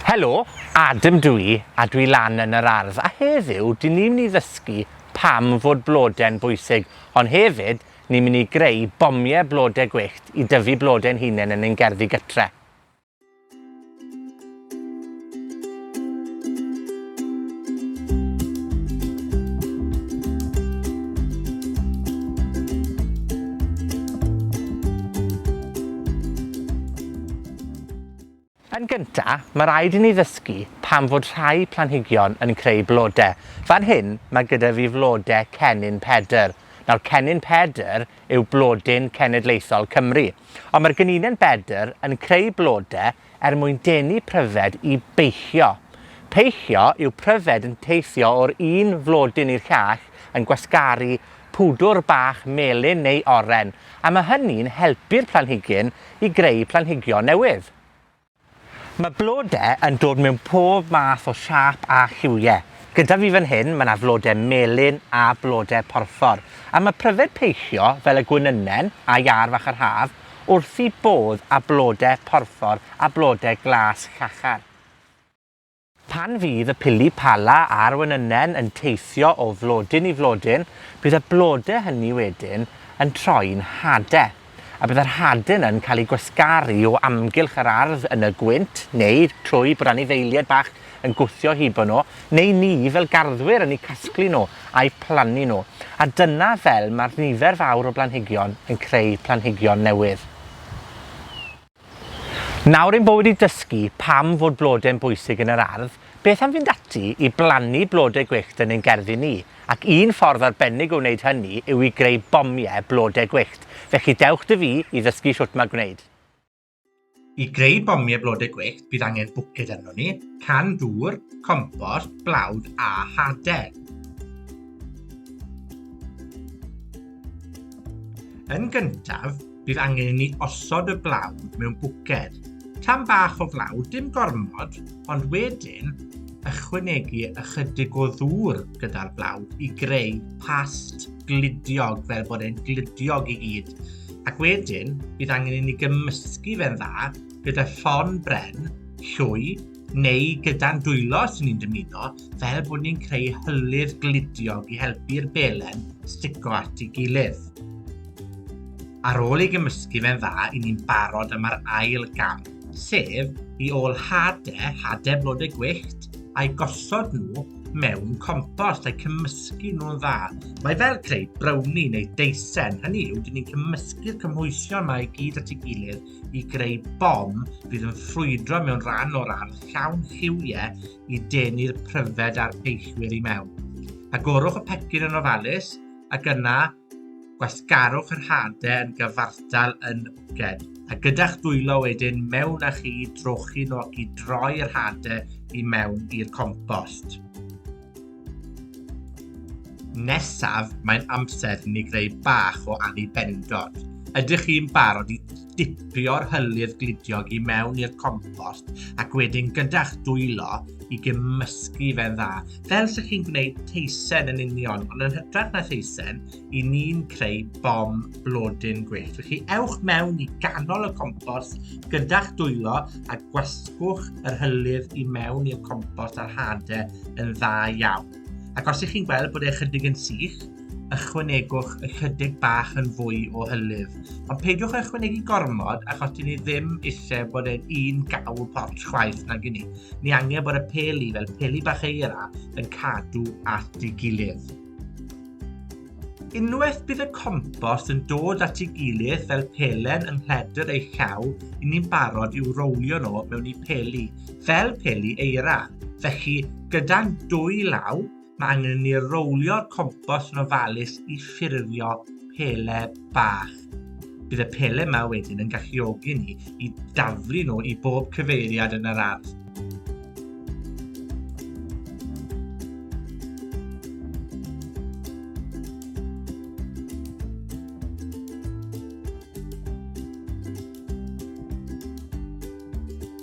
Helo, Adam dw i, a dwi lan yn yr ardd, a heddiw, 'dyn ni myn' i ddysgu pam fod blode'n bwysig, ond hefyd, ni myn' i greu bomie blode gwyllt i dyfu blode'n hunen yn ein gerddi gytre. Yn gynta, ma' raid i ni ddysgu pam fod rhai planhigion yn creu blode. Fan hyn, ma' gyda fi flode Cennin Pedr. Nawr Cennin Pedr yw blodyn cenedlaethol Cymru. Ond ma'r gynune'n bedr yn creu blode er mwyn denu pryfed i beichio. Peichio yw pryfed yn teithio o'r un flodyn i'r llall yn gwasgaru pwdwr bach melyn neu oren, a ma' hynny'n helpu'r planhigyn i greu planhigion newydd. Ma' blode yn dod mewn pob math o siâp a lliwie. Gyda fi fan hyn, ma' 'na flode melyn a blode porffor, a ma' pryfed peillio, fel y gwenynen, a iâr fach yr haf, wrth 'u bodd â blode porffor a blode glas llachar. Pan fydd y pili pala a'r wenynen yn teithio o flodyn i flodyn, bydd y blode hynny wedyn yn troi'n hade, a bydd yr hade yna'n cael eu gwasgaru o amgylch yr ardd yn y gwynt, neu trwy bod anifeilied bach yn gwthio hibo nhw, neu ni, fel garddwyr, yn eu casglu nhw a'u plannu nhw. A dyna fel mae'r nifer fawr o blanhigion yn creu planhigion newydd. Nawr ein bo wedi dysgu pam fod blode yn bwysig yn yr ardd, beth am fynd ati i blannu blode gwyllt yn ein gerddi ni? Ac un ffordd arbennig o wneud hynny yw i greu bomie blode gwyllt. Felly, dewch 'da fi i ddysgu shwt ma' gwneud. I greu bomie blode gwyllt, bydd angen bwced arnon ni, can dŵr, compost, blawd a hade. Yn gyntaf, Bydd angen i ni osod y blaw mewn bwced. Tan bach o flaw, dim gormod, ond wedyn ychwanegu ychydig o ddŵr gyda'r blaw i greu past gludiog fel bod e'n gludiog i gyd. Ac wedyn, bydd angen i ni gymysgu fe'n dda gyda llon bren, llwy, neu gyda'n dwylo os ni'n dymuno, fel bod ni'n creu hylif gludiog i helpu'r belen stico at ei gilydd. Ar ôl ei gymysgu fe'n dda, i ni'n barod am yr ail gam, sef i ôl hade, hade blodau gwyllt, a'i gosod nhw mewn compost a'i cymysgu nhw'n dda. Mae fel creu browni neu deisen, hynny yw, dyn ni'n cymysgu'r cymhwysion mae i gyd at ei gilydd i greu bom fydd yn ffrwydro mewn rhan o'r ardd llawn lliwie i denu'r pryfed a'r peillwyr i mewn. Agorwch y pecyn yn ofalus ac yna gwasgarwch yr hade yn gyfartal yn wced. A gyda'ch dwylo wedyn mewn â chi drochi nhw ac i droi'r hade i mewn i'r compost. Nesaf, mae'n amser i ni greu bach o anni bendod. Ydych chi'n barod i dipio'r hylif glidiog i mewn i'r compost ac wedyn gyda'ch dwylo i gymysgu fe'n dda, fel sy'ch chi'n gwneud teisen yn union, ond yn hytrach na theisen, i ni'n creu bom blodyn gwyllt. Felly ewch mewn i ganol y compos gyda'ch dwylo a gwasgwch yr hylif i mewn i'r compos a'r hade yn dda iawn. Ac os ych chi'n gweld bod e chydig yn sych, ychwanegwch ychydig bach yn fwy o hylif. Ond peidiwch â ychwanegu gormod achos dyn ni ddim eisiau bod e'n un gawl pot chwaith nag i ni. Ni angen bod y peli fel peli bach eira yn cadw at ei gilydd. Unwaith bydd y compost yn dod at ei gilydd fel pelen yng nghledr ei llaw, 'yn ni'n barod i'w rowlio nw mewn i peli, fel peli eira. Felly, gyda'n dwy law, ma' angen i ni rowlio'r compost yn ofalus i ffurfio pele bach. Bydd y pele yma wedyn yn galluogi ni i daflu nhw i bob cyfeiriad yn yr ardd.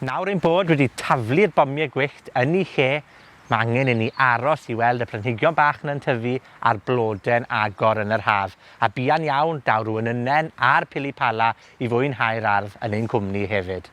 Nawr ein bod wedi taflu'r bomie gwyllt yn 'u lle, ma' angen i ni aros i weld y planhigion bach 'na'n tyfu, a'r blode'n agor yn yr haf. A buan iawn, daw rw ynynnen a'r pilipala i fwynhau'r ardd yn ein cwmni hefyd.